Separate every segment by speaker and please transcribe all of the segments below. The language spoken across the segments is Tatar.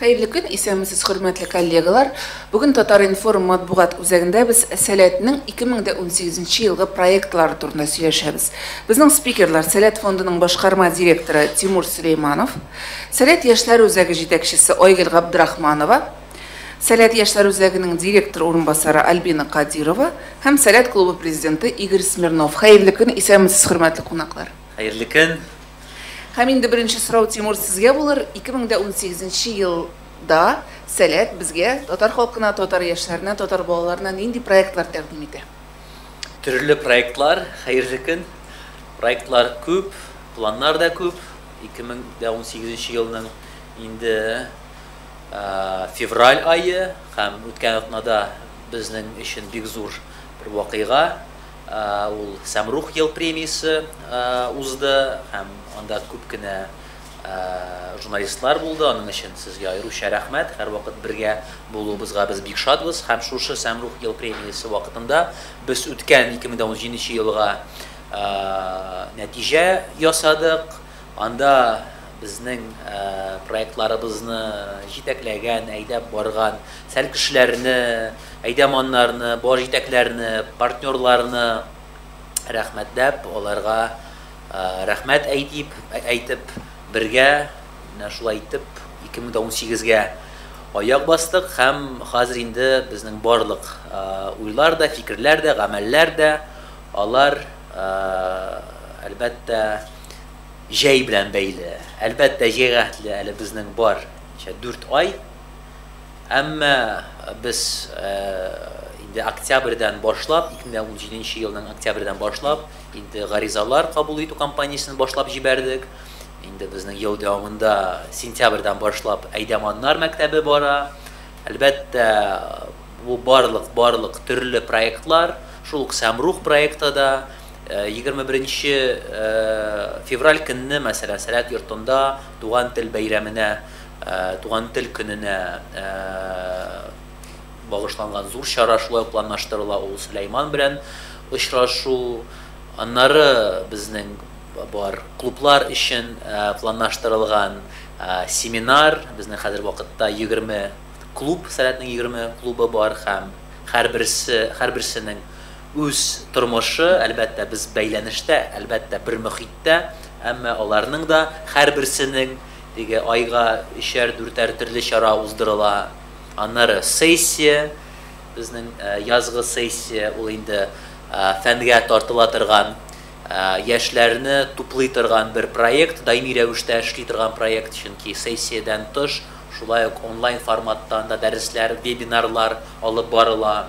Speaker 1: Хәерле көн, исәнмесез, хөрмәтле коллегалар! Бүген Татар-информ матбугат үзәгендә без Сәләтнең 2018 нче елгы проектлары турында сөйләшәбез. Безнең спикерлар, Сәләт фондының башкарма директоры Тимур Сөләйманов, Сәләт яшьләр үзәге җитәкчесе Айгөл Габдрахманова, Сәләт яшьләр үзәгенең директор урынбасары Альбина Кадирова һәм Сәләт клубы президенты Игорь Смирнов. Хәерле көн, исәнмесез, хөрмәтле кунаклар! Хәерле көн!
Speaker 2: Һәм
Speaker 1: инде беренче сорау, Тимур, сезгә булыр. 2018 нче елда Сәләт безгә, татар халкына, татар яшьләренә, татар балаларына нинди проектлар тәкъдим итә? Төрле
Speaker 2: проектлар, хәерле көн! Проектлар күп, планнар да күп. 2018 нче елның инде февраль ае һәм үткән атнада безнең өчен бик зур бер вакыйга, ул Сәмрух ел премиясе узды һәм анда күп кенә журналистлар булды, аның өчен сезгә аеруча рәхмәт, һәрвакыт бергә булуыбызга без бик шатбыз һәм шушы Сәмрух ел премиясе вакытында без үткән 2017 нче елга нәтиҗә ясадык, анда Безнең проектларыбызны җитәкләгән, әйдәп барган сәл кешеләрне, әйдәманнарны, бар җитәкләрне, партнерларны рәхмәтләп, аларга рәхмәт әйтип, әйтеп, бергә менә шулай итеп 2018 гә аяк бастык һәм хәзер инде безнең барлык уйлар да, фикерләр дә, гамәлләр дә, алар әлбәттә, Җәй белән бәйле. Әлбәттә, җәйгә хәтле әле безнең бар ча дүрт ай. Әмма без инде октябрьдән башлап, 2017 нче елның октябрьдән башлап инде гаризалар кабул итү кампаниясен башлап җибәрдек. Инде безнең ел дәвамында сентябрьдән башлап Әйдәманнар мәктәбе бара. Әлбәттә, бу барлык барлык төрле проектлар, шул ук Сәмрух проекты да Егерме беренче февраль көнне, мәсәлән, Сәләт йортында Туган тел бәйрәменә, Туган тел көненә багышланган зур чара шулай ук планлаштырыла, ул Сөләйман белән очрашу. Аннары безнең бар клублар өчен планлаштырылган семинар, безнең хәзер вакытта егерме клуб, Сәләтнең егерме клубы бар һәм һәрберсе, һәрберсенең Үз тормышы, әлбәттә, без бәйләнештә, әлбәттә, бер мөхиттә, әмма аларның да һәрберсенең, теге айга өчәр-дүртәр төрле чара уздырыла, аннары сессия, безнең язгы сессия, ул инде фәнгә тартыла торган, яшьләрне туплый торган бер проект, даими рәвештә эшли торган проект, чөнки сессиядән тыш, шулай ук онлайн форматта анда дәресләр, вебинарлар алып барыла.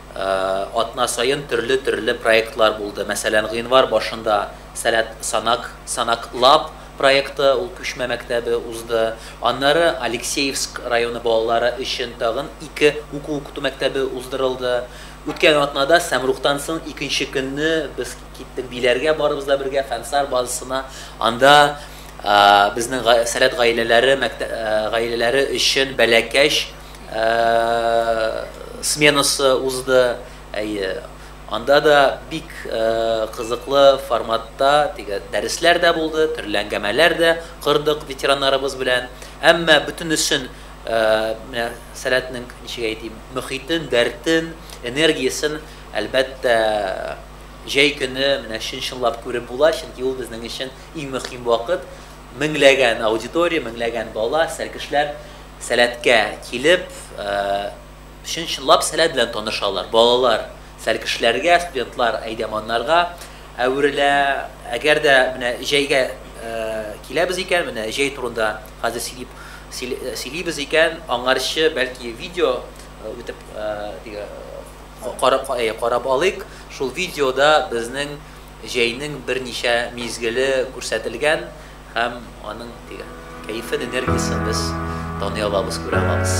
Speaker 2: Атна саен төрле-төрле проектлар булды. Мәсәлән, гыйнвар башында Сәләт санак, Санак Лаб проекты, ул күчмә мәктәбе, узды. Аннары Алексеевск районы балалары өчен тагын ике уку-укыту мәктәбе уздырылды. Үткән атнада Сәмрухтан соң икенче көнне без киттек Биләргә, барыбыз да бергә Фәнсар базасына. Анда безнең Сәләт гаиләләре гаиләләре өчен бәләкәч, сменасы узды. Әйе, анда да бик кызыклы форматта теге дәресләр дә булды, төрле әңгәмәләр дә кордык ветераннарыбыз белән. Әмма бөтенесен менә Сәләтнең, ничек әйтим, мөхитен, дәртен, энергиясен, әлбәттә, җәй көне менә чын-чынлап күреп була, чөнки ул безнең өчен иң мөхим вакыт. Меңләгән аудитория, меңләгән бала, сәркешләр. Сәләткә килеп, чын-чынлап сәләт белән танышалар. Балалар сәлкешләргә, студентлар әйдәманнарга әверелә. Әгәр дә менә җәйгә киләбез икән, менә җәй турында хәзер сөйлип сөйлибез икән, аңарчы, бәлки, видео үтеп карап карап алыйк. Шул видеода безнең җәйнең берничә мизгеле күрсәтелгән. Һәм аның дигән кәефен, энергиясен без таный алабыз, күрә алабыз.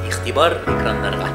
Speaker 2: Игътибар экраннарга!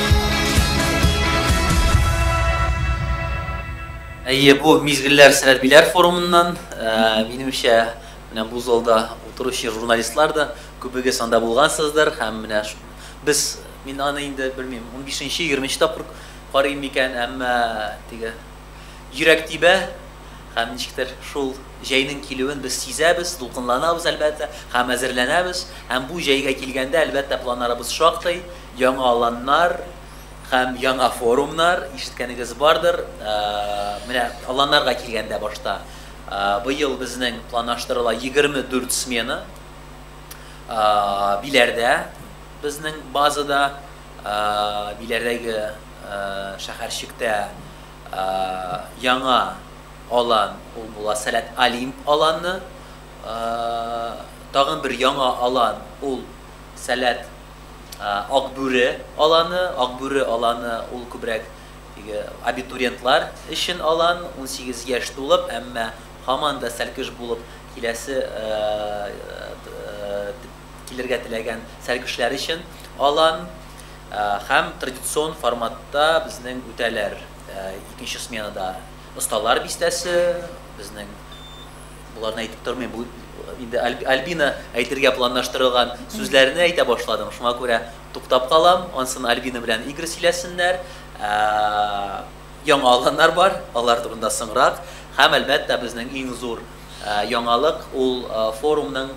Speaker 2: Әйе, бу мизгелләр Сәләбиләр форумыннан. Минемчә, менә бу залда утыручы журналистлар да күбегез анда булгансыздыр һәм менә без, мин аны инде белмим, унбишенче, егерменче тапкыр карыйм микән, әмма теге йөрәк тибә һәм ничектер шул җәйнең килүен без сизәбез, дулкынланабыз, әлбәттә, һәм әзерләнәбез. Һәм бу җәйгә килгәндә, әлбәттә, планнарыбыз шактый, Яңа аланнар һәм яңа форумнар, ишеткәнегез бардыр. Менә аланнарга килгәндә, башта быел безнең планаштырыла 24 смена Биләрдә, безнең базада, Биләрдәге шәһәрчектә яңа алан ул була Сәләт Олимп аланы. Тагын бер яңа алан ул Сәләт Акбүре аланы, Акбүре аланы ул күбрәк теге абитуриентлар өчен алан, унсигез яшь тулып, әмма һаман да Сәлкеш булып киләсе килергә теләгән Сәлкешләр өчен алан һәм традицион форматта безнең үтәләр икенче сменада Осталар бистәсе, безнең Боларны әйтеп тормыйм, бу инде Альбина әйтергә планлаштырылган сүзләрне әйтә башладым. Шуңа күрә туктап калам. Ансын Альбина белән Игорь сөйләсеннәр. Ә, яңа алганнар бар, алар турында соңрак. Һәм әлбәттә безнең иң зур ә, яңалык ул ә, форумның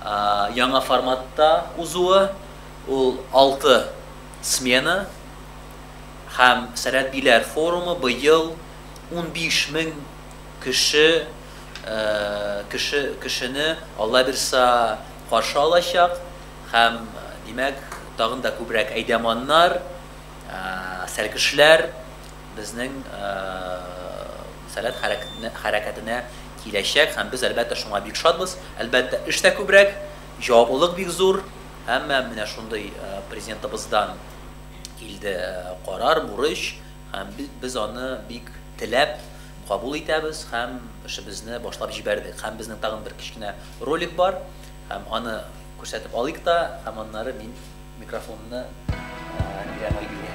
Speaker 2: ә, яңа форматта узуы. Ул 6 смена һәм Сәләт биләр форумы быел 15 мең Кеше кеше кешене, Аллабирса, каршы алачак һәм, димәк, тагын да күбрәк әйдәманнар, сәлкешләр безнең Сәләт хәрәкәтенә киләчәк һәм без, әлбәттә, шуңа бик шатбыз. Әлбәттә, эш тә күбрәк, җаваплылык бик зур, әмма менә шундый Президентыбыздан килде карар, бурыч, Һәм бит без аны бик теләп кабул итәбез һәм эшебезне башлап җибәрдек. Һәм безнең тагын бер кечкенә ролик бар, һәм аны күрсәтеп алыйк та, һәм аннары мин микрофонны бирәм Айгөлгә.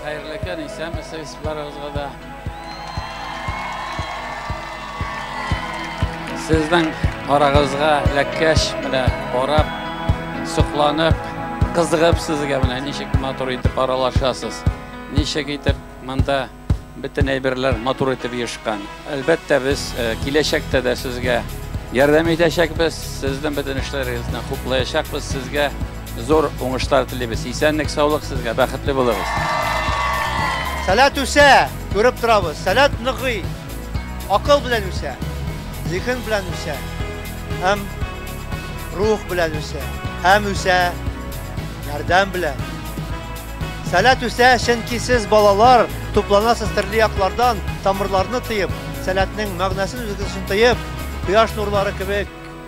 Speaker 3: Хәерле көн, исәнмесез барыгызга да. Сезнең арагызга эләккәч, менә карап, сокланып, кызыгып сезгә менә ничек матур итеп аралашасыз. Ничек итеп монда бөтен әйберләр матур итеп ешкан. Әлбәттә, без э, киләчәктә дә сезгә ярдәм итәчәкбез, сезнең бөтен эшләрегезне хуплаячакбыз, сезгә Зур уңышлар телибез. Исәнлек, саулык сезгә, бәхетле булыгыз.
Speaker 4: Сәләт үсә, күреп торабыз. Сәләт ныгый. Акыл белән үсә, зиһен белән үсә. Һәм рух белән үсә. Һәм үсә ярдәм белән. Сәләт үсә, чөнки сез балалар тупланасыз төрле яклардан, тамырларны тыеп, сәләтнең мәгънәсен үзегез өчен тоеп, кояш нурлары кебек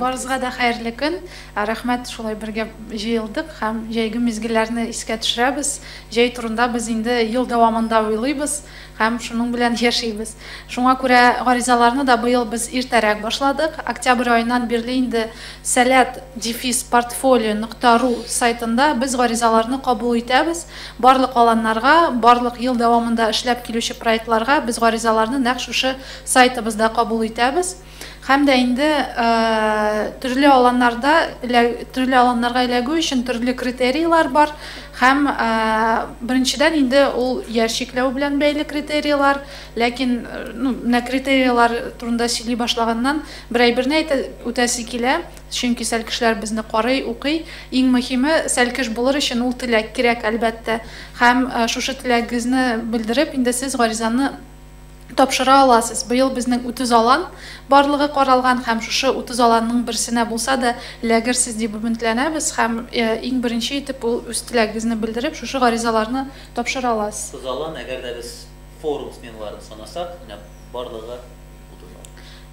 Speaker 1: Барыгызга да
Speaker 5: хәерле көн! Рәхмәт, шулай бергә җыелдык һәм җәйге мизгелләрне искә төшерәбез. Җәй турында без инде ел дәвамында уйлыйбыз һәм шуның белән яшибез. Шуңа күрә гаризаларны да быел без иртәрәк башладык. Октябрь аеннан бирле инде Сәләт, дефис, портфолио нокта ру сайтында без гаризаларны кабул итәбез. Барлык аланнарга, барлык ел дәвамында эшләп килүче проектларга без гаризаларны нәкъ шушы сайтыбызда кабул итәбез. Һәм дә инде төрле аланнарда төрле аланнарга эләгү өчен төрле критерийлар бар һәм беренчедән инде ул яр чикләү белән бәйле критерийлар ләкин ну, менә критерийлар турында сөйли башлаганнан бер әйберне үтәсе килә чөнки сәлкешләр безне карый укый иң мөһиме сәлкеш булыр өчен ул теләк кирәк әлбәттә һәм шушы теләгегезне белдереп инде сез гаризаны тапшыра аласыз. Быел безнең 30 алан барлыгы каралган һәм шушы 30 аланның берсенә булса да эләгерсез дип өметләнәбез һәм иң беренче итеп ул үз теләгегезне белдереп шушы гаризаларны тапшыра аласыз. 30 алан, әгәр дә без
Speaker 2: форум сменаларын санасак, менә барлыгы 30 алан.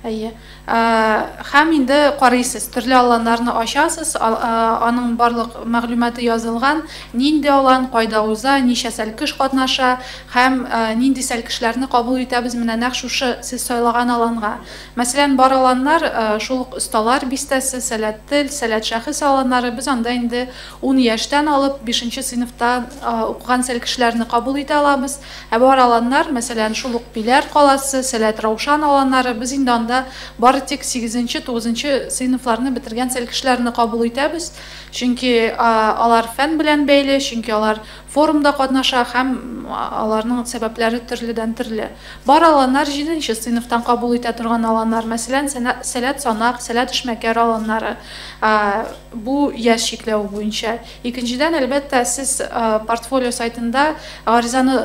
Speaker 2: Әйе.
Speaker 5: Һәм инде карыйсыз, төрле аланнарны ачасыз, аның барлык мәгълүматы язылган, нинди алан, кайда уза, ничә сәлкеш катнаша һәм нинди сәлкешләрне кабул итәбез менә нәкъ шушы сез сайлаган аланга. Мәсәлән, бар аланнар, шул ук Осталар бистәсе, Сәләт тел, Сәләт шәхес аланнары, без анда инде ун яшьтән алып бишенче сыйныфта укыган сәлкешләрне кабул итә алабыз. Ә бар аланнар, мәсәлән, шул ук Биләр каласы, Сәләт Раушан аланнары, без инде анда бары тик сигезенче, тугызынчы сыйныфларны бетергән сәл кешеләрне кабул итәбез, чөнки алар фән белән бәйле, чөнки алар форумда катнаша һәм аларның сәбәпләре төрледән-төрле. Бар аланнар җиденче сыйныфтан кабул итә торган аланнар, мәсәлән, Сәләт Санак, Сәләт Эшмәкәр аланнары, бу яшь чикләве буенча. Икенчедән, әлбәттә, сез портфолио сайтында гаризаны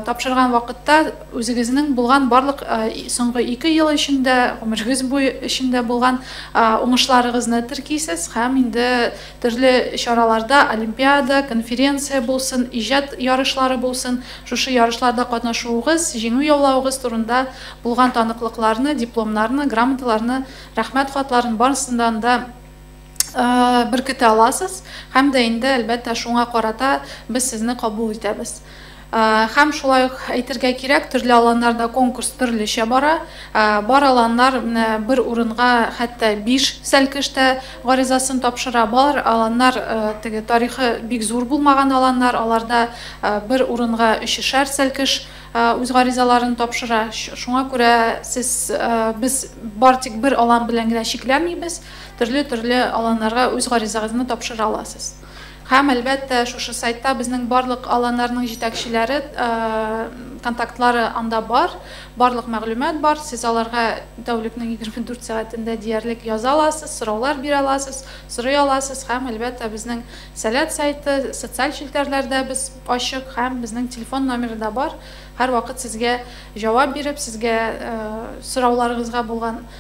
Speaker 5: тапшырган вакытта үзегезнең булган барлык соңгы ике ел эчендә, гомерегез буе эчендә булган уңышларыгызны теркисез һәм инде төрле чараларда, олимпиада, конференция булсын, иҗат ярышлары булсын, шушы ярышларда катнашуыгыз, җиңү-яулавыгыз турында булган таныклыкларны, дипломнарны, грамоталарны, рәхмәт хатларын, барысыннан да беркетә аласыз һәм дә инде әлбәттә шуңа карата без сезне кабул итәбез һәм шулай ук әйтергә кирәк төрле аланнарда конкурс төрлечә бара бар аланнар менә бер урынга хәтта биш сәлкештә гаризасын тапшыра бар аланнар теге тарихы бик зур булмаган аланнар аларда бер урынга өчешәр сәлкеш үз гаризаларын тапшыра шуңа күрә сез без бар тик бер алан белән генә чикләмибез Төрле-төрле аланнарга үз гаризагызны тапшыра аласыз. Һәм, әлбәттә, шушы сайтта безнең барлык аланнарның җитәкчеләре контактлары анда бар, барлык мәгълүмат бар. Сез аларга тәүлекнең 24 сәгатендә диярлек яза аласыз, сораулар бирә аласыз, сорый аласыз. Һәм, әлбәттә, безнең Сәләт сайты, социаль челтәрләрдә без ачык һәм безнең телефон номеры да бар. Һәрвакыт сезгә җавап биреп, сезгә сорауларыгызга булган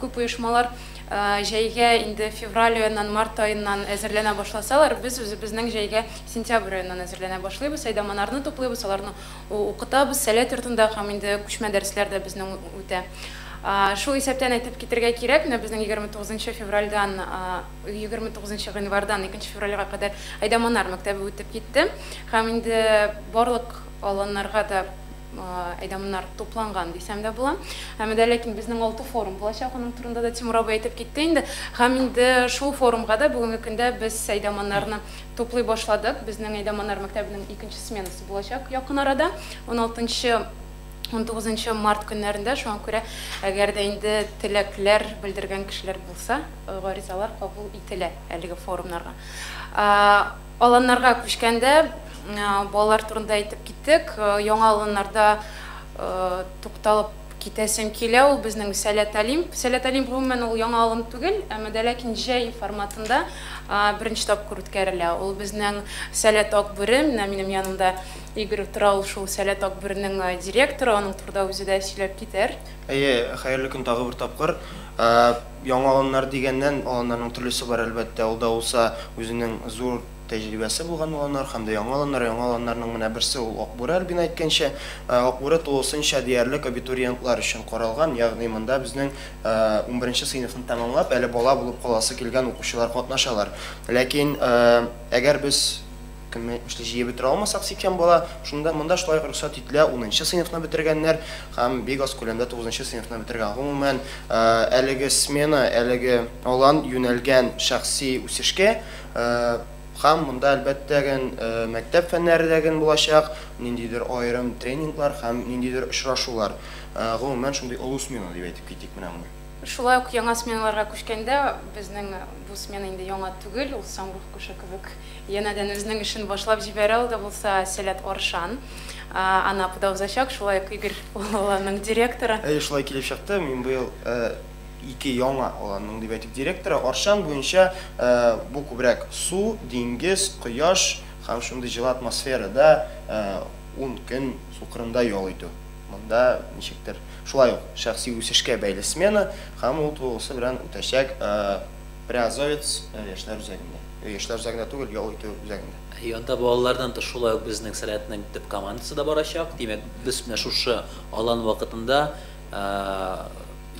Speaker 6: Күп оешмалар җәйгә инде февраль аеннан, март аеннан әзерләнә башласалар, без үзебезнең җәйгә сентябрь аеннан әзерләнә башлыйбыз. Әйдаманарны туплыйбыз, аларны укытабыз, сәләт йортында һәм инде күчмә дәресләр дә безнең үтә. Шул исәптән әйтеп китергә кирәк, менә безнең егерме тугызынчы февральдән, егерме тугызынчы гыйнвардан икенче февральгә кадәр Әйдаманар мәктәбе үтеп китте һәм инде барлык аланнарга да, әйдә монар тупланган дисәм дә була. Һәм дә ләкин безнең алты форум булачак, аның турында да Тимур абый әйтеп китте инде. Һәм инде шул форумга да бүгенге көндә без әйдә монарны туплый башладык. Безнең әйдә монар мәктәбенең икенче сменасы булачак якын арада, уналтынчы, унтугызынчы март көннәрендә. Шуңа күрә әгәр дә инде теләкләр белдергән кешеләр булса, гаризалар кабул ителә әлеге форумнарга. Аланнарга күчкәндә балалар турында әйтеп киттек. Яңа Аланнарда тукталып китәсем килә, ул безнең Сәләт Олимп. Сәләт Олимп, гомумән, ул яңа алым түгел, әмма дә ләкин җәй форматында беренче тапкыр үткәрелә. Ул безнең Сәләт Акбүре, менә минем янымда Игорь тора, ул шул Сәләт Акбүренең директоры, аның турыда үзе дә сөйләп китәр. Әйе, хәерле
Speaker 7: көн тагы бер тапкыр. Яңа аланнар дигәннән, аланнарның төрлесе бар, әлбәттә. Ул да булса, үзенең зур тәҗрибәсе булган аланнар һәм дә яңа аланнар. Яңа аланнарның менә берсе ул Акбүре, Альбина әйткәнчә. Акбүре тулысынча диярлек абитуриентлар өчен каралган, ягъни монда безнең унберенче сыйныфны тәмамлап, әле бала булып каласы килгән укучылар катнашалар. Ләкин әгәр без. Көнләшне җыеп бетерә алмасак, 80 бала, шунда монда шулай ук рөхсәт ителә, унынчы сыйныфны бетергәннәр һәм бик аз күләмдә тугызынчы сыйныфны бетергән. Гомумән, әлеге смена, әлеге алан юнәлгән шәхси үсешкә һәм монда, әлбәттә, гел мәктәп фәннәре дә гел булачак, ниндидер аерым тренинглар һәм ниндидер очрашулар. Гомумән, шундый олы смена дип әйтеп китик менә моны. Шулай ук яңа
Speaker 6: сменаларга күчкәндә, безнең бу смена инде яңа түгел, ул Самрух кошы кебек. Янәдән үзенең эшен башлап җибәрә, ул да булса Сәләт Оршан. Анапыда узачак, шулай ук Игорь ул аланның директоры. Әйе, шулай килеп чыкты,
Speaker 7: мин быел ике яңа аланның, дип әйтик, директоры. Оршан буенча бу күбрәк су, диңгез, кояш һәм шундый җылы атмосферада ун көн су кырында ял итү. Монда ничектер шулай ук шәхси үсешкә бәйле смена һәм ул тулысы белән үтәчәк. Приазовец яшьләр үзәгендә. Яшьләр үзәгендә түгел, ял итү үзәгендә. И анда балалардан
Speaker 2: тыш шулай ук безнең сәләтнең төп командасы да барачак. Димәк, без менә шушы алан вакытында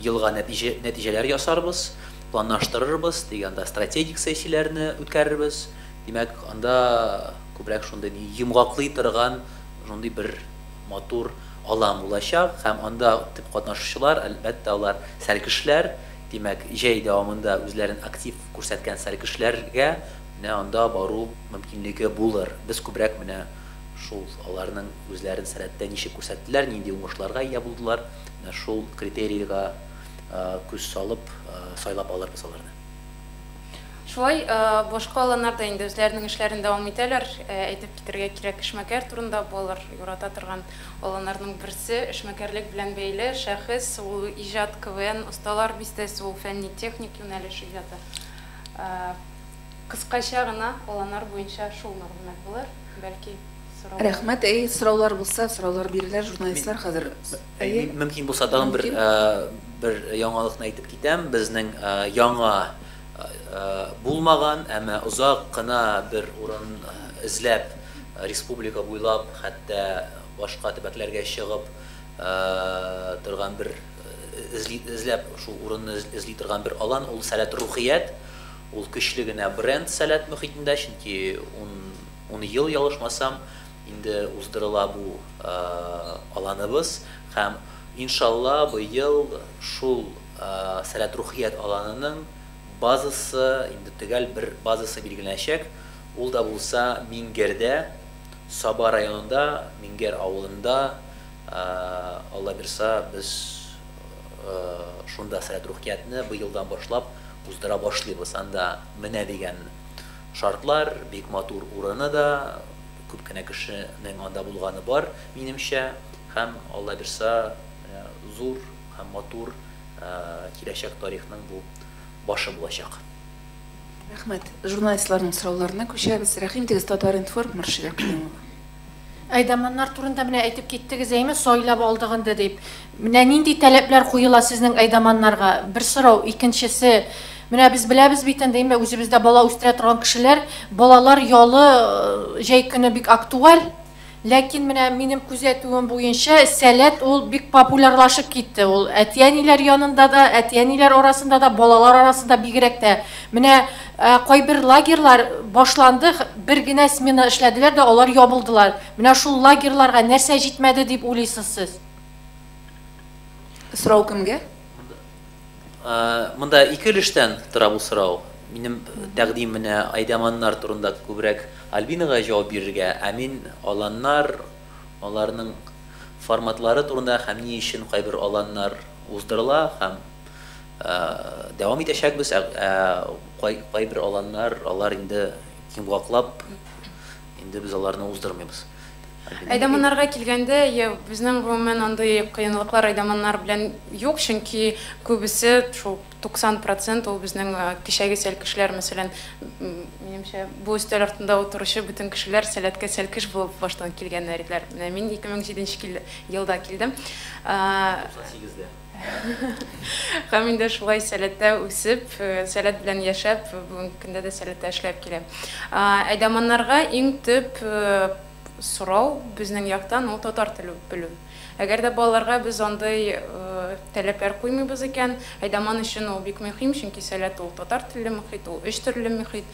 Speaker 2: елга нәтиҗә нәтиҗәләр ясарбыз, планлаштырырбыз, тик анда стратегик сессияләрне үткәрербез. Димәк, анда күбрәк шундый ни йомгаклый торган шундый бер матур алан булачак һәм анда төп катнашучылар, әлбәттә, алар сәлкешләр. Димәк, җәй дәвамында үзләрен актив күрсәткән сәргешләргә менә анда бару мөмкинлеге булыр. Без күбрәк менә шул аларның үзләрен сәләттә ничек күрсәттеләр, нинди уңышларга ия булдылар, менә шул критерийга күз салып, сайлап алырбыз аларны.
Speaker 6: Шулай башка аланнарда инде үзләренең эшләрен дәвам итәләр. Әйтеп китәргә кирәк, эшмәкәр турында балалар ярата торган. Аланарның берсе, эшмәкәрлек белән бәйле шәхес, ул иҗат, КВН, Осталар бистәсе, ул фәнни-техник юнәлеш иҗаты. Кыскача гына аланар буенча шул мәгълүмат булыр. Бәлки, сораулар. Рәхмәт, әйе, сораулар
Speaker 1: булса, сораулар бирерләр, журналистлар хәзер, әйе. Мин, мөмкин
Speaker 2: булса, тагын бер, бер яңалыкны әйтеп китәм, безнең яңа булмаган, әмма озак кына бер урын эзләп. Республика буйлап, хәтта башка төбәкләргә чыгып торган бер эзли, эзләп шул урынны эзли торган бер алан, ул Сәләт Рухият. Ул көчле генә бренд Сәләт мөхитендә, чөнки ун, ун ел, ялгышмасам, инде уздырыла бу аланыбыз. Һәм, иншалла, быел шул Сәләт Рухият аланының базасы, инде төгәл бер базасы билгеләнәчәк, ул да булса Миңгердә, Саба районында, Миңгер авылында, Аллабирса, без шунда Сәләт Рухиятне быелдан башлап уздыра башлыйбыз. Анда менә дигән шартлар, бик матур урыны да, күп кенә кешенең анда булганы бар, минемчә, һәм Аллабирса зур Һәм матур киләчәк тарихның бу башы булачак.
Speaker 1: Рәхмәт. Журналистларның сорауларына күчәбез. Рәхим итегез, Татар-информ, Мөршидә Каюмова. Әйдаманнар
Speaker 8: турында менә әйтеп киттегез, әйме, сайлап алдык инде дип. Менә нинди таләпләр куела сезнең әйдаманнарга? Бер сорау, икенчесе, менә без беләбез бит инде, әйме, үзебездә бала үстерә торган кешеләр, балалар ялы җәй көне бик актуаль. Ләкин менә минем күзәтүем буенча, сәләт ул бик популярлашып китте. Ул әти-әниләр янында да, әти-әниләр арасында да, балалар арасында бигрәк тә. Менә кайбер лагерьлар башланды, бер генә смена эшләделәр дә алар ябылдылар. Менә шул лагерьларга нәрсә җитмәде дип уйлыйсыз сез?
Speaker 1: Сорау кемгә?
Speaker 2: Монда ике өлештән тора бу сорау. Минем тәкъдим менә Айдаманнар турында күбрәк Альбинага җавап бирергә, ә мин Аланнар, аларның форматлары турында һәм ни өчен кайбер Аланнар уздырыла һәм дәвам итәчәкбез, ә кайбер Аланнар, алар инде йомгаклап, инде без аларны уздырмыйбыз. Айдаманнарга
Speaker 6: килгәндә, я, безнең гомумән андый кыенлыклар айдаманнар белән юк, чөнки күбесе, шул 90 процент ул безнең кичәге сәлкешләр, мәсәлән, минемчә, бу өстәл артында утыручы бөтен кешеләр Сәләткә сәлкеш булып баштан килгәннәр иделәр. Менә мин 2007 нче елда килдем. 98 дә. Һәм инде шулай сәләттә үсеп, сәләт белән яшәп, бүгенге көндә дә сәләттә эшләп киләм. Әйдаманнарга иң төп сорау безнең яктан ул татар теле белү. Әгәр дә балаларга без андый таләпләр куймыйбыз икән, әйдаман өчен ул бик мөһим, чөнки сәләт ул татар телле мөхит, ул өч төрле мөхит.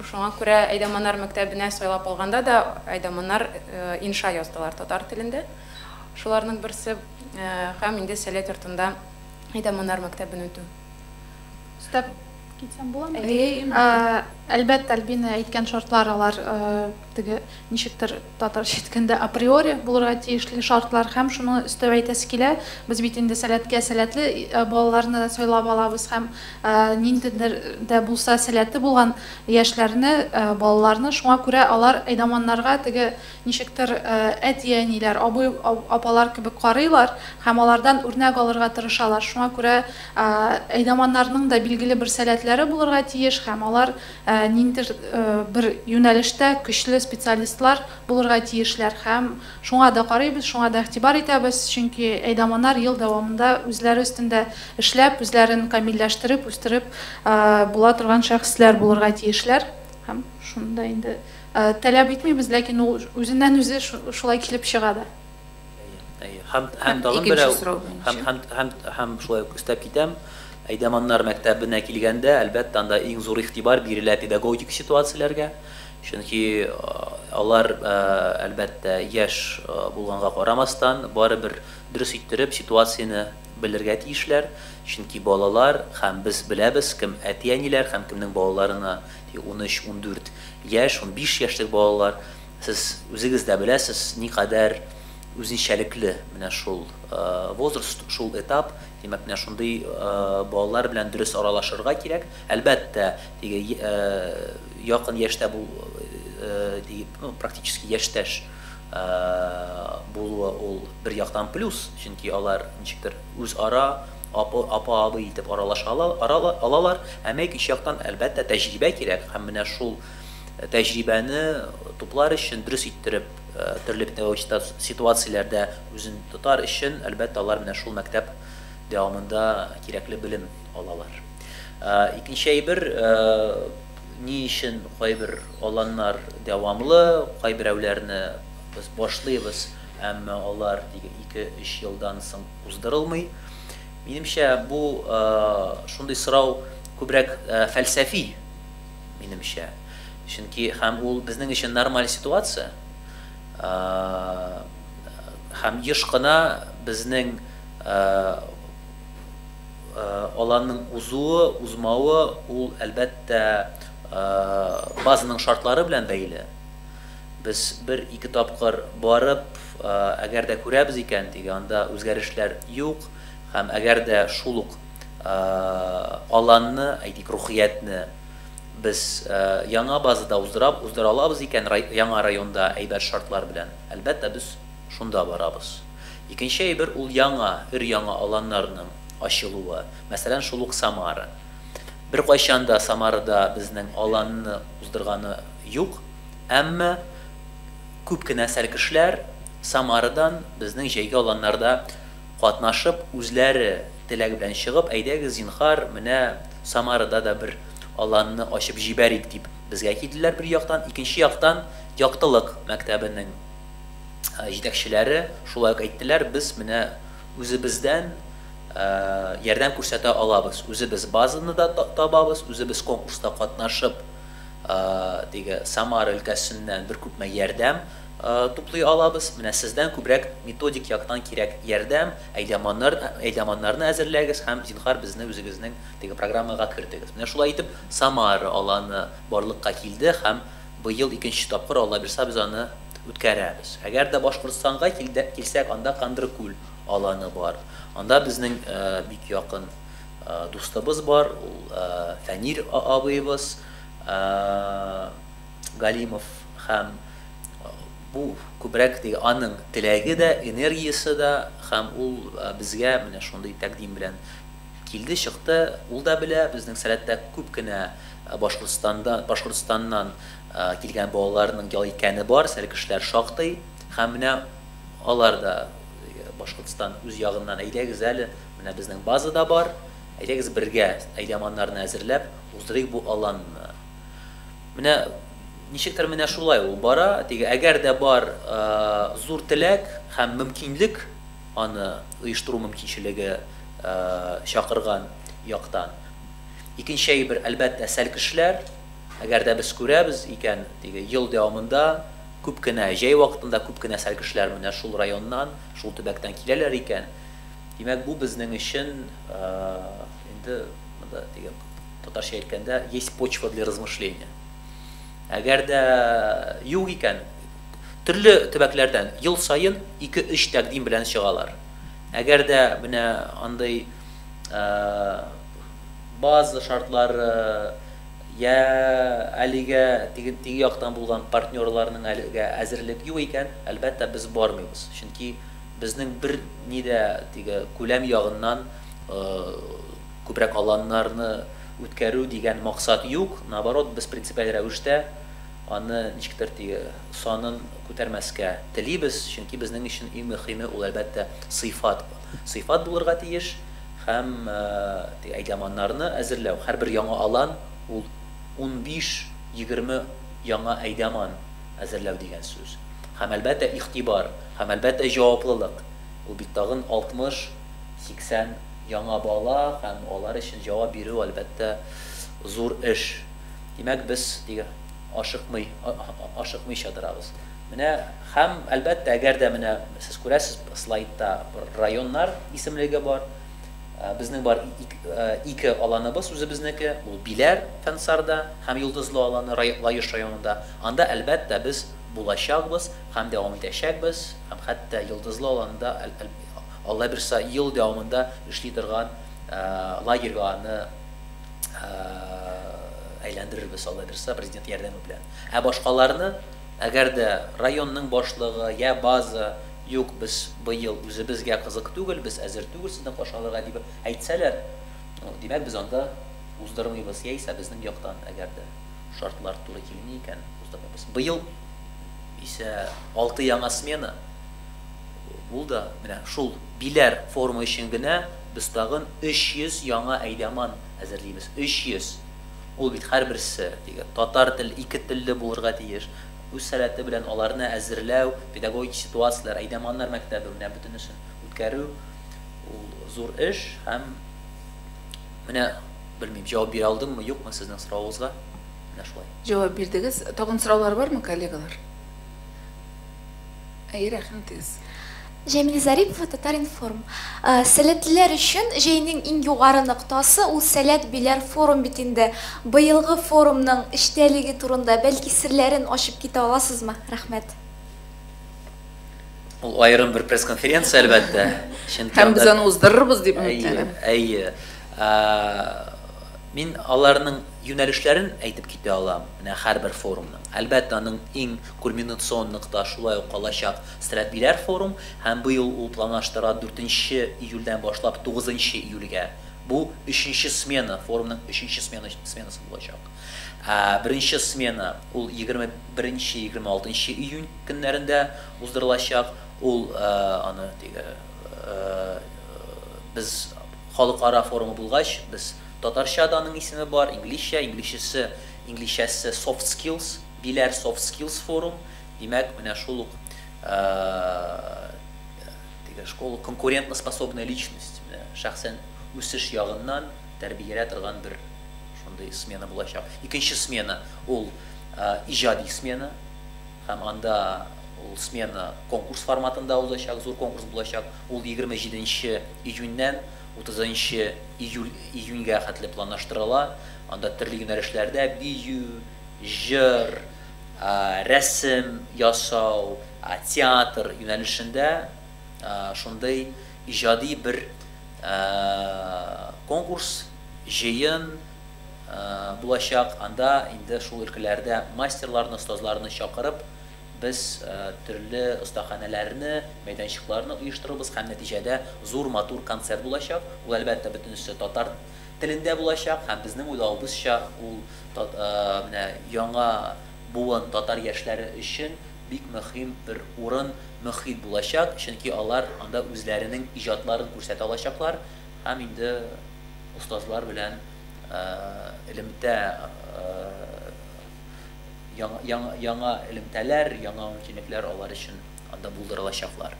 Speaker 6: Шуңа күрә әйдаманнар мәктәбенә сайлап алганда да әйдаманнар инша яздылар татар телендә. Шуларның берсе һәм инде Сәләт йортында Әйдәманнар мәктәбен үтү. Өстәп
Speaker 5: китсәм буламы? Әйе, әлбәттә, Альбина әйткән шартлар алар теге ничектер татарча әйткәндә априори булырга тиешле шартлар һәм шуны өстәп әйтәсе килә, без бит инде Сәләткә сәләтле балаларны сайлап алабыз һәм ниндидер дә булса сәләте булган яшьләрне, балаларны, шуңа күрә алар Әйдәманнарга теге Ничектер, әти-әниләр, абый-апалар кебек карыйлар һәм алардан үрнәк алырга тырышалар. Шуңа күрә әйдаманнарның да билгеле бер сәләтләре булырга тиеш һәм алар ниндидер бер юнәлештә көчле специалистлар булырга тиешләр. Һәм шуңа да карыйбыз, шуңа да игътибар итәбез, чөнки әйдаманнар ел дәвамында үзләре өстендә эшләп, үзләрен камилләштереп, үстереп була торган шәхесләр булырга тиешләр. Һәм шунда инде. Таләп итмибез, ләкин ул үзеннән-үзе шулай килеп чыга да. Әйе, әйе.
Speaker 2: Һәм, һәм тагын берәү. Икенче сорау буенча. Һәм, һәм, һәм, һәм шулай ук өстәп китәм, Әйдәманнар мәктәбенә килгәндә, әлбәттә, анда иң зур игътибар бирелә педагогик ситуацияләргә, чөнки алар, әлбәттә, яшь булганга карамастан, барыбер дөрес иттереп ситуацияне белергә тиешләр, чөнки балалар, һәм без беләбез, кем әти-әниләр һәм кемнең балаларына 13-14 яшь, унбиш яшьлек балалар, сез үзегез дә беләсез, никадәр үзенчәлекле менә шул возраст, шул этап. Димәк, менә шундый балалар белән дөрес аралашырга кирәк. Әлбәттә, теге якын яшьтә бу дип, ну, практически яшьтәш булуы ул бер яктан плюс, чөнки алар ничектер үзара Апы, апа, абый итеп аралаша алалар. Ә мег ич яктан, әлбәттә, тәҗрибә кирәк һәм менә шул тәҗрибәне туплар өчен, дөрес иттереп, төрле педагогик ситуацияләрдә үзен тотар өчен, әлбәттә, алар менә шул мәктәп дәвамында кирәкле белем алалар. Икенче әйбер, ни өчен кайбер аланнар дәвамлы, кайберәүләрне без башлыйбыз, әмма алар тик ике-өч елдан соң, уздырылмый. Минемчә, бу шундый сорау күбрәк фәлсәфи, минемчә. Чөнки һәм ул безнең өчен нормаль ситуация. Һәм еш кына безнең аланның узуы, узмавы ул әлбәттә базаның шартлары белән бәйле. Без бер-ике тапкыр барып, Әгәр дә күрәбез икән, диге анда үзгәрешләр юк һәм әгәр дә шул ук аланны, әйтик, рухиятне без яңа базада уздыра алабыз икән, яңа районда әйбәт шартлар белән, әлбәттә, без шунда барабыз. Икенче әйбер, ул яңа, өр-яңа аланнарның ачылуы, мәсәлән, шул ук Самара. Беркайчан да Самарада безнең аланны уздырганы юк, әмма, Күп кенә сәркешләр Самарадан безнең җәйге аланнарда катнашып, үзләре теләк белән чыгып, әйдәгез, зинһар, менә Самарада да бер аланны ачып җибәрик, дип безгә килделәр, бер яктан. Икенче яктан, Яктылык мәктәбенең җитәкчеләре шулай ук әйттеләр, без менә үзебездән ярдәм күрсәтә алабыз, үзебез базаны да табабыз, үзебез конкурста катнашып, теге Самара өлкәсеннән бер күпме ярдәм туплый алабыз. Менә сездән күбрәк методик яктан кирәк ярдәм, әйдаманнар, әйдаманнарны әзерләгез һәм, зинһар, безне үзегезнең теге программага кертегез. Менә шулай итеп, Самара аланы барлыкка килде һәм быел икенче тапкыр, Аллабирса, без аны үткәрәбез. Әгәр дә Башкортстанга килдек, килсәк, анда Кандыркүл аланы бар. Анда безнең бик якын Дустыбыз бар, ул Фәнир абыебыз Галимов һәм бу күбрәк теге аның теләге дә, энергиясе дә һәм ул безгә менә шундый тәкъдим белән килде, чыкты. Ул да белә, безнең сәләттә күп кенә Башкортстанда, Башкортстаннан килгән балаларның ял иткәне бар, сәлкешләр шактый һәм менә алар да Башкортстан үз ягыннан әйдәгез әле, Менә безнең база да бар, әйдәгез бергә әйдаманнарны әзерләп уздырыйк бу аланны. Менә ничектер менә шулай ул бара, теге әгәр дә бар зур теләк һәм мөмкинлек аны оештыру мөмкинчелеге чакырган яктан. Икенче әйбер, әлбәттә, сәлкешләр. Әгәр дә без күрәбез икән, теге ел дәвамында күп кенә, җәй вакытында күп кенә сәлкешләр менә шул районнан, шул төбәктән киләләр икән, Димәк, бу безнең өчен, инде монда дигән татарча әйткәндә, есть почва для размышления. Әгәр дә юк икән, төрле төбәкләрдән ел саен 2-3 тәкъдим белән чыгалар. Әгәр дә менә андый база шартлары я әлегә теге теге яктан булган партнерларның әлегә әзерлек юк икән, әлбәттә, без бармыйбыз. Чөнки Безнең бер ни дә теге күләм ягыннан күбрәк аланнарны үткәрү дигән максат юк, наоборот, без принципиаль рәвештә аны ничектер теге санын күтәрмәскә телибез, чөнки безнең өчен иң мөхиме ул, әлбәттә, сыйфат. Сыйфат булырга тиеш һәм теге әйдаманнарны әзерләү, һәрбер яңа алан ул унбиш-егерме яңа әйдаман әзерләү дигән сүз. Һәм, әлбәттә, игътибар. Һәм, әлбәттә, җаваплылык. Ул бит тагын 60-80 яңа бала һәм алар өчен җавап бирү, әлбәттә, зур эш. Димәк, без нигә ашыкмый, ашыкмыйча торабыз? Менә, һәм, әлбәттә, әгәр дә менә сез күрәсез, слайдта бер районнар исемлеге бар. Безнең бар ике аланыбыз үзебезнеке, ул Биләр, Фәнсарда, һәм Йолдызлы аланы, Лаеш районында. Анда, әлбәттә, без булачакбыз. Һәм дәвам итәчәкбез, һәм хәтта йолдызлы аланда, Алла бирса, ел дәвамында эшли торган лагерьга аны әйләндерербез, Алла бирса, Президент ярдәме белән. Ә башкаларны, әгәр дә районның башлыгы, йә база, Юк, без быел үзебезгә кызык түгел, без әзер түгел сезне каршы алырга, дип әйтсәләр, ну, димәк, без анда уздырмыйбыз, яисә безнең яктан, әгәр дә шартлар туры килми икән, уздырмыйбыз. Быел. исә алты яңа смена, ул да менә шул Биләр форумы өчен генә без тагын 300 яңа әйдаман әзерлибез, 300! Ул бит һәрберсе, дигән, татар тел, ике телле булырга тиеш, үз сәләте белән аларны әзерләү, педагогик ситуацияләр, әйдаманнар мәктәбе, менә бөтенесен үткәрү, ул зур эш һәм менә, белмим, җавап бирә алдыммы, юкмы сезнең соравыгызга. Менә шулай. Җавап бирдегез.
Speaker 1: Тагын сораулар бармы, коллегалар? Әйе, рәхим итегез. Җәмил
Speaker 9: Зарипов, Татар-информ. Сәләтлеләр өчен җәйнең иң югары ноктасы ул Сәләт Биләр форум бит инде. Быелгы форумның эчтәлеге турында, бәлки, серләрен ачып китә аласызмы? Рәхмәт.
Speaker 2: Ул аерым бер пресс-конференция, әлбәттә. Чөнки
Speaker 1: анда Һәм без аны уздырырбыз дип өметләнәм.
Speaker 2: Әйе,
Speaker 1: әйе. Мин
Speaker 2: аларның Юнәлешләрен әйтеп китә алам, менә һәрбер форумның. Әлбәттә, аның иң кульминационн нокта шулай ук калачак Стрәпиләр форум һәм быел ул планлаштыра дүртенче июльдән башлап тугызынчы июльгә. Бу, өченче смена, форумның өченче смена сменасы булачак. Ә беренче смена, ул егерме беренче, егерме алтынчы июнь көннәрендә уздырылачак. Ул, аны теге, без халыкара форумы булгач, без Татарча да аның исеме бар, инглизчә, инглизчесе, инглизчәсе Soft Skills, диләр, Soft Skills Forum, димәк, менә шул ук теге школа конкурентноспособная личность, менә шәхсән үсеш ягыннан тәрбиялә торган бер шундый смена булачак. Икенче смена, ул иҗади смена һәм анда ул смена конкурс форматында узачак, зур конкурс булачак, ул егерме җиденче июньнән Утызынчы июль июньгә хәтле планлаштырыла, анда төрле юнәлешләрдә, бию, җыр, рәсем ясау, театр юнәлешендә шундый иҗади бер конкурс, җыен булачак, анда инде шул өлкәләрдә мастерларны, остазларны чакырып, Без төрле остаханәләрне, мәйданчыкларны оештырырбыз һәм нәтиҗәдә зур матур концерт булачак. Ул, әлбәттә, бөтенесе татар телендә булачак һәм безнең уйлавыбызча, ул менә яңа буын татар яшьләре өчен бик мөһим бер урын, мөхит булачак, чөнки алар анда үзләренең иҗатларын күрсәтә алачаклар һәм инде остазлар белән элемтә Яңа, яңа, яңа элемтәләр, яңа мөмкинлекләр алар өчен анда булдырылачаклар.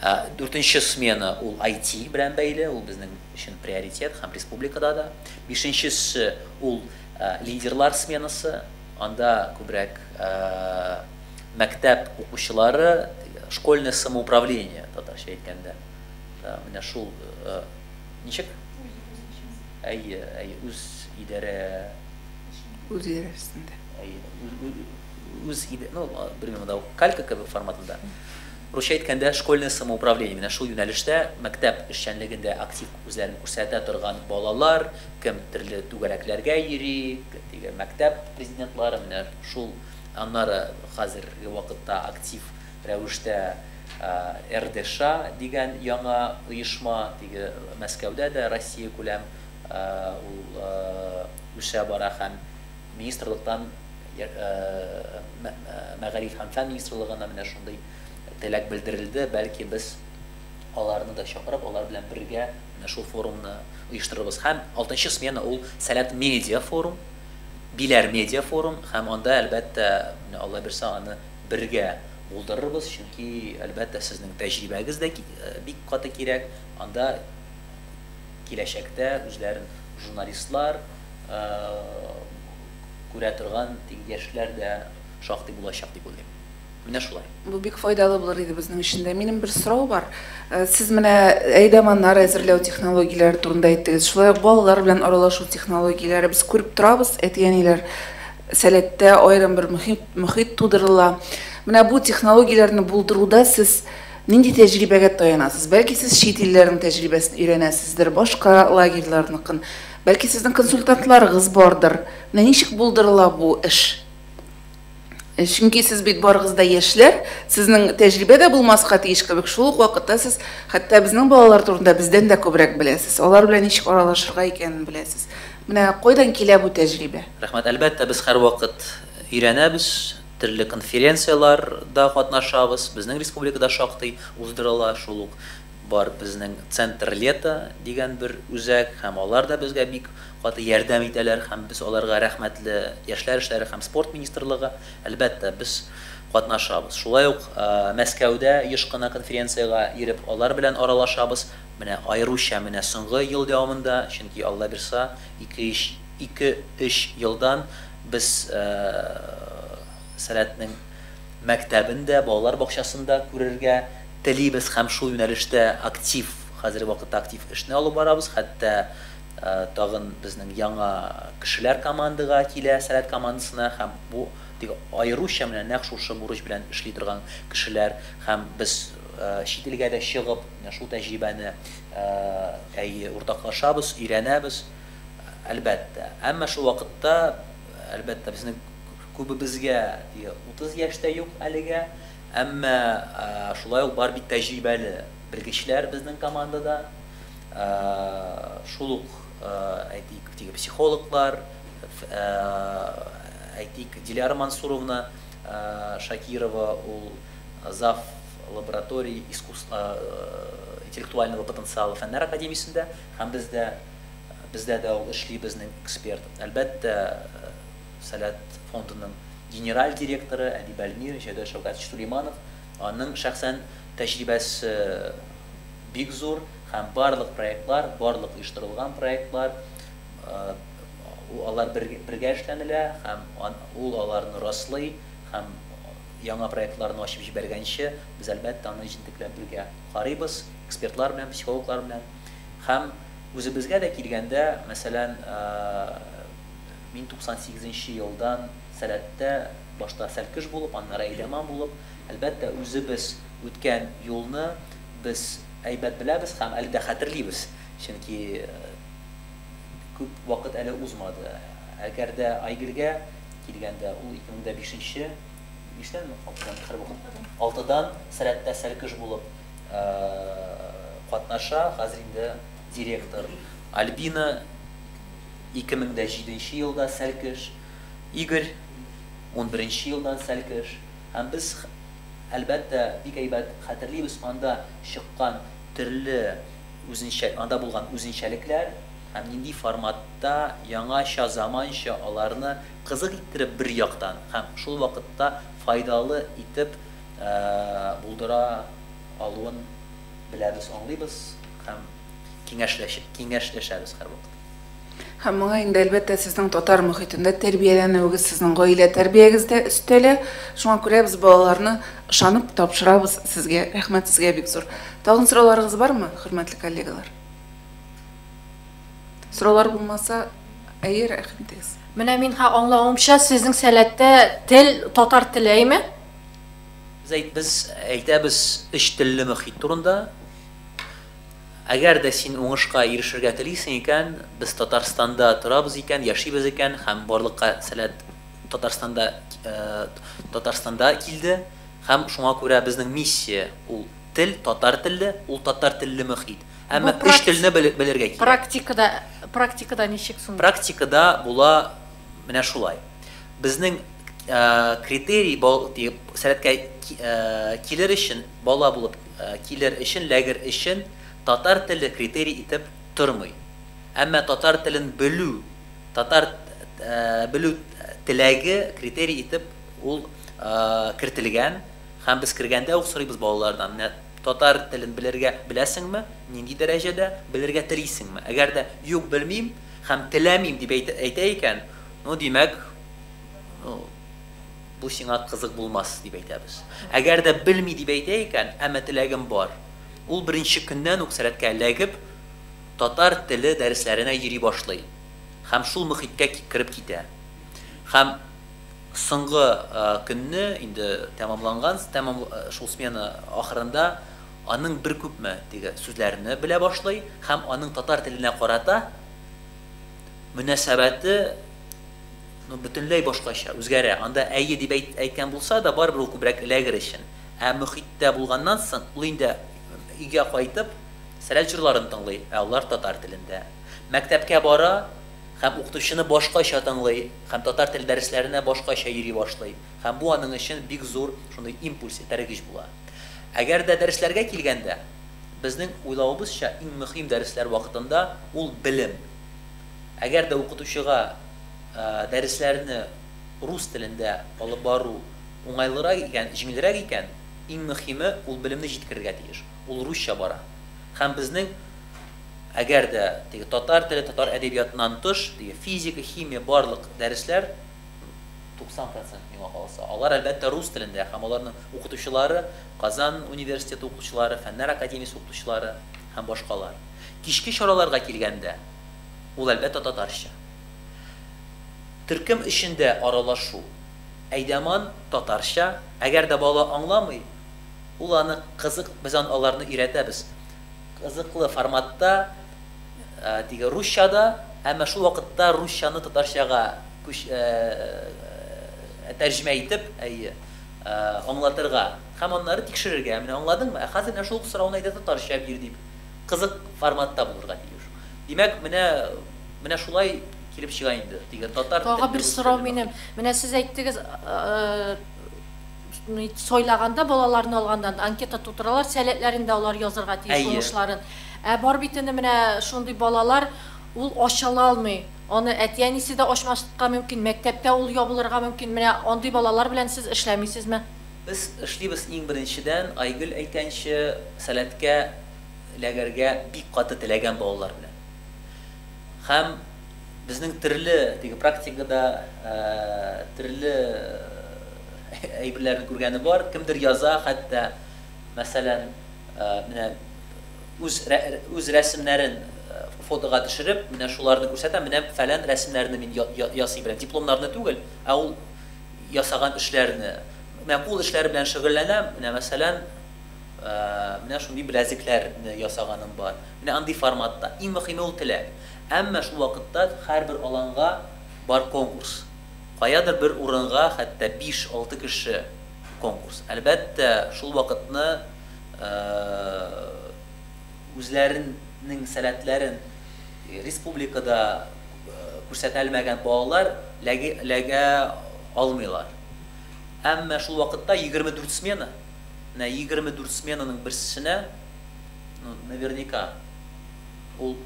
Speaker 2: Ә, Дүртенче смена ул IT белән бәйле, ул безнең өчен приоритет һәм республикада да. Бишенчесе ул ә, лидерлар сменасы, анда күбрәк ә, мәктәп укучылары, школьное самоуправление, татарча әйткәндә. Да, менә шул ә, ничек? Әйе, әйе, үз идарә Үз җир
Speaker 1: өстендә. Үз
Speaker 2: иде, ну, белмим, монда калька кебек форматында. Русча әйткәндә, школьное самоуправление, менә шул юнәлештә мәктәп эшчәнлегендә актив үзләрен күрсәтә торган балалар, кем төрле түгәрәкләргә йөри, теге мәктәп президентлары, менә шул, аннары хәзерге вакытта актив рәвештә РДША дигән яңа оешма, теге Мәскәүдә дә Россиякүләм Ул үсә бара һәм министрлыктан мәгариф һәм фән министрлыгына менә шундый теләк белдерелде, бәлки без аларны да чакырып, алар белән бергә менә шул форумны оештырырбыз. Һәм алтынчы смена ул Сәләт медиа форум, Биләр медиа форум һәм анда, әлбәттә, менә Алла бирсә, аны бергә булдырырбыз, чөнки, әлбәттә, сезнең тәҗрибәгез дә бик каты кирәк анда. Киләчәктә үзләрен журналистлар күрә торган яшьләр дә шактый булачак дип уйлыйм. Менә шулай. Бу бик файдалы булыр
Speaker 1: иде безнең өчен дә. Минем бер сорау бар. Сез менә әйдаманнар әзерләү технологияләре турында әйттегез. Шулай ук балалар белән аралашу технологияләре. Без күреп торабыз, әти-әниләр сәләттә аерым бер мохит тудырыла. Менә бу технологияләрне булдыруда сез Нинди тәҗрибәгә таянасыз? Бәлки сез чит илләрнең тәҗрибәсен өйрәнәсездер, башка лагерьларныкын. Бәлки сезнең консультантларыгыз бардыр. Менә ничек булдырыла бу эш? Э, чөнки сез бит барыгыз да яшьләр, сезнең тәҗрибә дә булмаска тиеш кебек, шул ук вакытта сез хәтта безнең балалар турында бездән дә күбрәк беләсез. Алар белән ничек аралашырга икәнен беләсез. Менә кайдан килә бу тәҗрибә? Рәхмәт. Әлбәттә, без
Speaker 2: һәрвакыт өйрәнәбез, Төрле конференцияләр дә катнашабыз. Безнең республикада шактый уздырыла. Шул ук бар безнең Центр лета дигән бер үзәк һәм алар да безгә бик каты ярдәм итәләр һәм без аларга рәхмәтле. Яшьләр эшләре һәм спорт министрлыгы, әлбәттә, без катнашабыз. Шулай ук Мәскәүдә еш кына конференциягә йөреп, алар белән аралашабыз. Менә аеруча менә соңгы ел дәвамында, чөнки Аллабирса ике-өч Ике-өч елдан без Сәләтнең мәктәбен дә, балалар бакчасын да күрергә телибез һәм шул юнәлештә актив, хәзерге вакытта актив эшне алып барабыз. Хәтта тагын безнең яңа кешеләр командага килә, Сәләт командасына һәм бу бик аеруча менә нәкъ шушы бурыч белән эшли торган кешеләр һәм без чит илгә дә чыгып, менә шул тәҗрибәне уртаклашабыз, өйрәнәбез. Әлбәттә. Әмма шул вакытта, әлбәттә, безнең күбебезгә и 30 яшь тә юк әлегә. Әмма шулай ук бар бит тәҗрибәле белгечләр безнең командада. Шул ук, әйтик, теге психологлар, әйтик, Диляра Мансуровна Шакирова, ул зав. Лаборатории искусств интеллектуального потенциала фәннәр академиясендә һәм бездә. Бездә дә ул эшли безнең эксперт. Әлбәттә, Сәләт фондының генераль директоры Әдип Әлмир, Җәүдәт Шәүкәтович Сулейманов, аның шәхсән тәҗрибәсе бик зур һәм барлык проектлар, барлык оештырылган проектлар, алар бергә эшләнелә һәм ул аларны раслый һәм яңа проектларны ачып җибәргәнче, без, әлбәттә, аны җентекләп бергә карыйбыз, экспертлар белән, психологлар белән. Һәм үзебезгә дә килгәндә, мәсәлән, мин 98 нче елдан Сәләттә, башта Сәлкеш булып, аннары Әйдәман булып, әлбәттә, үзебез үткән юлны без әйбәт беләбез һәм әле дә хәтерлибез, чөнки күп вакыт әле узмады. Әгәр дә Айгөлгә килгәндә, ул 2005 нче, биштән ме, алтыдан, алтыдан Сәләттә Сәлкеш булып, катнаша, хәзер инде директор. Альбина, 2007 нче елда Сәлкеш, Игорь, унберенче елдан Сәлкеш, һәм без, әлбәттә, бик әйбәт хәтерлибез анда чыккан төрле үзенчә, анда булган үзенчәлекләр һәм нинди форматта, яңача, заманча аларны кызык иттереп бер яктан һәм шул вакытта файдалы итеп, булдыра алуын беләбез, аңлыйбыз һәм киңәшләшәбез һәрвакыт. Һәм моңа
Speaker 1: инде, әлбәттә, сезнең татар мохитендә тәрбияләнүегез, сезнең гаилә тәрбиягез дә өстәлә. Шуңа күрә без балаларны ышанып тапшырабыз сезгә. Рәхмәт сезгә бик зур. Тагын сорауларыгыз бармы, хөрмәтле коллегалар? Сораулар булмаса, әйе, рәхим итегез. Менә мин
Speaker 8: аңлавымча, сезнең сәләттә тел татар теле, әйме? Без әйт,
Speaker 2: без әйтәбез өч телле мөхит турында. Әгәр дә син уңышка ирешергә телисең икән, без Татарстанда торабыз икән, яшибез икән һәм барлыкка сәләт Татарстанда, Татарстанда килде һәм шуңа күрә безнең миссия ул тел, татар телле, ул татар телле мөхит. Әмма өч телне белергә кирәк. Практикада, практикада ничек
Speaker 8: соң? Практикада була
Speaker 2: менә шулай. Безнең критерий сәләткә килер өчен, бала булып килер өчен, ләгер өчен татар теле критерий итеп тормый. Әмма татар телен белү, татар белү теләге критерий итеп ул кертелгән һәм без кергәндә үк сорыйбыз балалардан, менә татар телен белергә беләсеңме, нинди дәрәҗәдә, белергә телисеңме? Әгәр дә юк, белмим һәм теләмим дип әйтә икән, Ну, димәк, ну, бу сиңа кызык булмас, дип әйтәбез. Әгәр дә белми дип әйтә икән, әмма теләгем бар, ул беренче көннән үк сәләткә эләгеп, татар теле дәресләренә йөри башлый һәм шул мөхиткә кереп китә. Һәм соңгы көнне, инде тәмамланган, тәмам шул смена ахырында аның бер күпме теге сүзләрне белә башлый һәм аның татар теленә карата, мөнәсәбәте ну, бөтенләй башкача, үзгәрә. Анда әйе дип әйт, әйткән булса да, барыбер ул күбрәк эләгер өчен. Ә мөхиттә булганнан соң, ул инде өйгә кайтып, сәләт җырларын тыңлый, ә алар татар телендә. Мәктәпкә бара һәм укытучыны башкача тыңлый һәм татар теле дәресләренә башкача йөри башлый. Һәм бу аның өчен бик зур шундый импульс, этәргеч була. Әгәр дә дәресләргә килгәндә, безнең уйлавыбызча иң мөхим дәресләр вакытында ул белем. Әгәр дә укытучыга дәресләрне рус телендә алып бару уңайлырак икән, җиңелрәк икән, иң мөхиме ул белемне җиткерергә тиеш. Ул русча бара. Һәм безнең әгәр дә теге татар теле, татар әдәбиятыннан тыш, теге физика, химия, барлык дәресләр, 90 процент, миңа калса. Алар, әлбәттә, рус телендә һәм аларның укытучылары, Казан университеты укытучылары, Фәннәр академиясе укытучылары һәм башкалар. Кичке чараларга килгәндә, ул, әлбәттә, татарча. Төркем эчендә аралашу, әйдәман, татарча. Әгәр дә бала аңламый, ул аны кызык, без аны, аларны өйрәтәбез, кызыклы форматта, теге, русча да, әмма шул вакытта русчаны татарчага, Күч ә ә тәрҗемә итеп, әйе, ә аңлатырга һәм аннары тикшерергә, менә аңладыңмы, ә хәзер менә шул ук сорауны әйдә татарча бир дип, кызык форматта булырга тиеш. Димәк, менә менә шулай килеп чыга инде, теге татар телле Тагы бер сорау минем.
Speaker 8: Менә сез әйттегез, ни сайлаганда балаларны алганнан анкета тутыралар, сәләтләрен дә алар язырга тиеш, уңышларын. Әйе. Ә бар бит инде менә шундый балалар, ул ачыла алмый, Аны әти-әнисе дә ачмаска мөмкин, мәктәптә ул ябылырга мөмкин. Менә андый балалар белән сез эшләмисезме? Без эшлибез,
Speaker 2: иң беренчедән, Айгөл әйтәнче, Сәләткә эләгәргә бик каты теләгән балалар белән. Һәм безнең төрле теге практикада төрле әйберләрне күргәне бар. Кемдер яза хәтта, мәсәлән, менә, Үз үз рәсемнәрен фотога төшереп, менә шуларны күрсәтә, менә фәлән рәсемнәрне мин ясый беләм. Дипломнарны түгел, ә ул ясаган эшләрне. Менә кул эшләре белән шөгыльләнәм, менә мәсәлән, менә шундый беләзекләрне ясаганым бар. Менә андый форматта. Иң мөхиме ул теләк. Әмма шул вакытта һәрбер аланга бар конкурс. Каядыр бер урынга хәтта биш-алты кеше конкурс. Әлбәттә, шул вакытны үзләренең сәләтләрен республикада күрсәтәлмәгән балалар ләгә алмыйлар. Әмма шул вакытта егерме дүрт смена, менә егерме дүрт сменаның берсенә, ну, наверняка, ул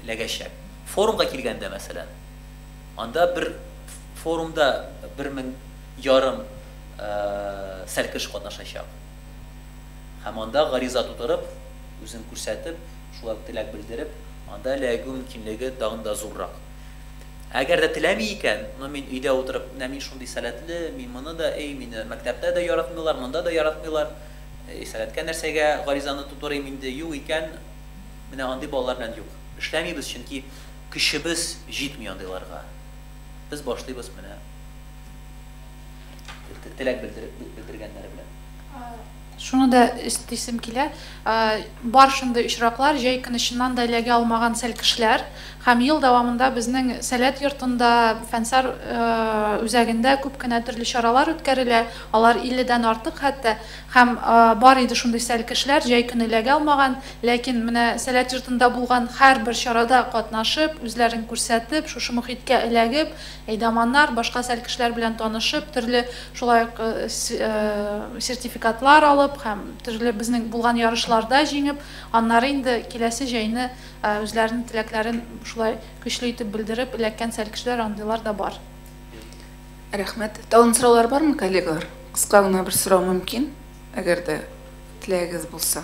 Speaker 2: ләгәчәк. Форумга килгәндә, мәсәлән, анда бер форумда бер мең ярым сәлкеш катнашачак. Һәм анда гариза тутырып, үзен күрсәтеп, шулай ук теләк белдереп, анда эләгү мөмкинлеге тагын да зуррак. Әгәр дә теләми икән, ну, мин өйдә утырып, менә мин шундый сәләтле, мин моны да, әй, мине мәктәптә дә яратмыйлар, монда да яратмыйлар, әй, сәләткә нәрсәгә гаризаны тутырыйм инде, юк икән, менә андый балалар белән юк. Эшләмибез, чөнки көчебез җитми андыйларга. Без башлыйбыз менә. теләк белдергәннәре белән. Шуны
Speaker 5: да өстисем килә, бар шундый очраклар, җәй көне чыннан да эләгә алмаган сәл кешеләр һәм ел дәвамында безнең Сәләт йортында, Фәнсар үзәгендә күп кенә төрле чаралар үткәрелә, алар илледән артык хәтта, һәм бар иде шундый сәл кешеләр, җәй көне эләгә алмаган, ләкин менә Сәләт йортында булган һәрбер чарада катнашып, үзләрен күрсәтеп, шушы мохиткә эләгеп, Әйдаманнар, башка сәл кешеләр белән танышып, төрле шулай ук сертификатлар алып һәм төрле безнең булган ярышларда җиңеп, аннары инде киләсе җәйне үзләренең теләкләрен шулай көчле итеп белдереп эләккән сәл кешеләр андыйлар да бар.
Speaker 1: Рәхмәт. Тагын сораулар бармы, коллегалар? Кыска гына бер сорау мөмкин, әгәр дә теләгегез булса.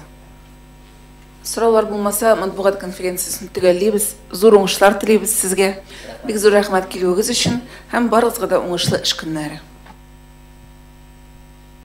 Speaker 1: Сораулар булмаса, матбугат конференциясен төгәллибез. Зур уңышлар телибез сезгә. Бик зур рәхмәт килүегез өчен һәм барыгызга да уңышлы эш көннәре.